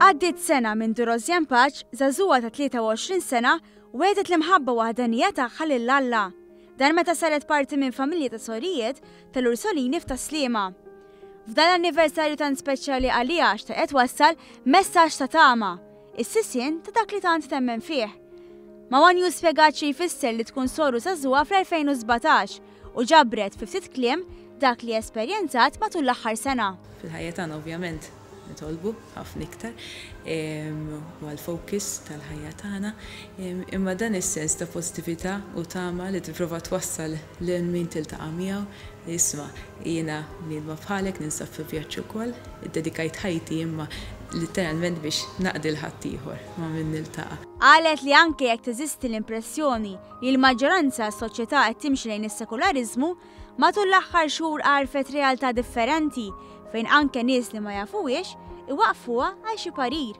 Għaddiet sena minn Durozjan Paċ, zazuwa ta' 23 sena, wedet l-imħabba waħdanija tagħha lil Alla. Dan meta saret parti minn familja ta' sorijiet tal-Ursolini f'Taslima. F'dan l-anniversarju tant speċjali għalija xtaqet wassal messaġġ ta' tama Is-sisien ta' dak li tant temmen fih. Ma' One News spjegat xi jfisser li tkun soru żagħżugħa fl-2017 u ġabret fi ftit kliem dak li esperjenzat matul l-aħħar sena. Fil-ħajja tagħna ovvjament nitolbu ħafna iktar, huwa l-focus tal-ħajja tagħna, imma dan is-sens ta' pożitività u tama li tipprova twassal Lil min tiltaqa' miegħu, isma', jiena bniedma bħalek ninsab fi vjaġġ ukoll, iddedikajt ħajti imma litteralment biex naqdi 'l ħaddieħor ma' min niltaqa'. Qalet li anke jekk teżisti l-impressjoni li l-maġġoranza tas-soċjetà qed timxi lejn is-sekulariżmu, matul l-aħħar xhur għarfet realtà differenti fejn anke nies li ma jafuhiex iwaqqfuha għal xi parir.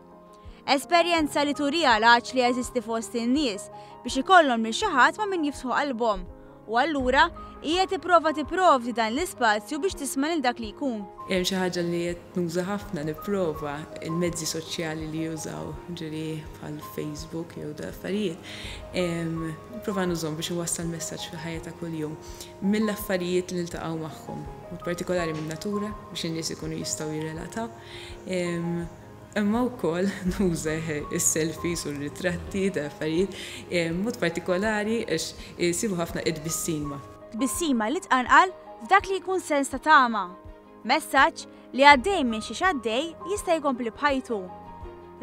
Esperjenza li turiha l-għatx li jeżisti fost in-nies biex ikollhom lil xi ħadd ma' min jiftħu qalbhom. U allura, hija tipprova tipprovdi dan l-ispazju biex tisma' lil dak li jkun. Hemm xi ħaġa li qed nuża ħafna, nipprova, il-mezzi soċjali li jużaw, ġieli bħal Facebook jew da affarijiet, nipprova nużhom biex inwassal messaġġ fil-ħajja ta' kuljum mill-affarijiet li niltaqgħu magħhom, b'mod partikolari min-natura biex in-nies ikunu jistgħu jirrelataw. imma wkoll nuża s-selfies u r-ritratti ta' affarijiet, b'mod partikolari għax isibu ħafna it-tbissima. Tbissima li tqanqal f'dak li jkun sens ta' tama, messaġġ li għaddej minn xiex għaddej jista' jkompli b'ħajtu.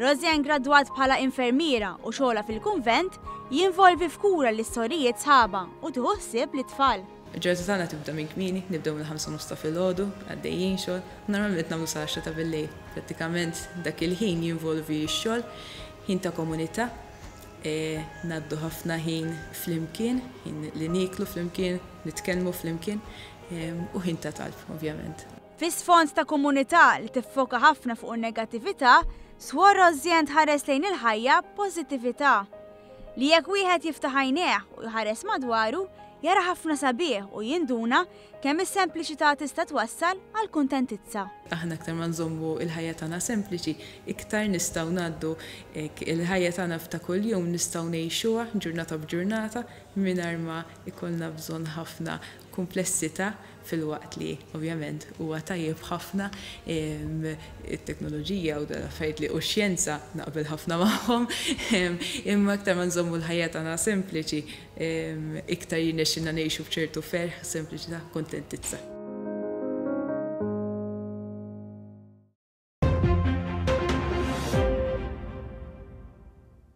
Rosie ingradwat bħala infermiera u xogħolha fil-kunvent jinvolvi f'kura lis-sorijiet sħabha u tieħu ħsieb lit-tfal. Il-ġurnata tagħna tibda minn kmieni, nibdew mill-ħamsa u nofs ta' filgħodu, għaddejjin xogħol, u normalment nagħmlu sal-għaxra ta' billejl. Prattikament dak il-ħin jinvolvi x-xogħol, ħin ta' komunità, ngħaddu ħafna ħin flimkien, ħin li nieklu flimkien, nitkellmu flimkien, u ħin ta' talb, ovvjament. Fi sfond ta' komunità li tiffoka ħafna fuq in-negattività, Swor Rosianne tħares lejn il-ħajja b'pożittività. Li jekk wieħed jiftaħ għajnejh u jħares madwaru, jara ħafna sabiħ u jinduna kemm is-sempliċità tista' twassal għal kuntentizza. Aħna aktar ma nżommu l-ħajja tagħna sempliċi, iktar nistgħu ngħaddu hekk il-ħajja tagħna ta' kuljum nistgħu ngħixuha ġurnata b'ġurnata mingħajr ma jkollna bżonn ħafna kumplessità filwaqt li, ovvjament, huwa tajjeb ħafna it-teknoloġija u l-affarijiet li u x-xjenza, naqbel ħafna magħhom, imma aktar ma nżommu l-ħajja tagħna sempliċi, iktar jirnexxilna ngħixu b'ċertu ferħ, sempliċità, kuntentizza.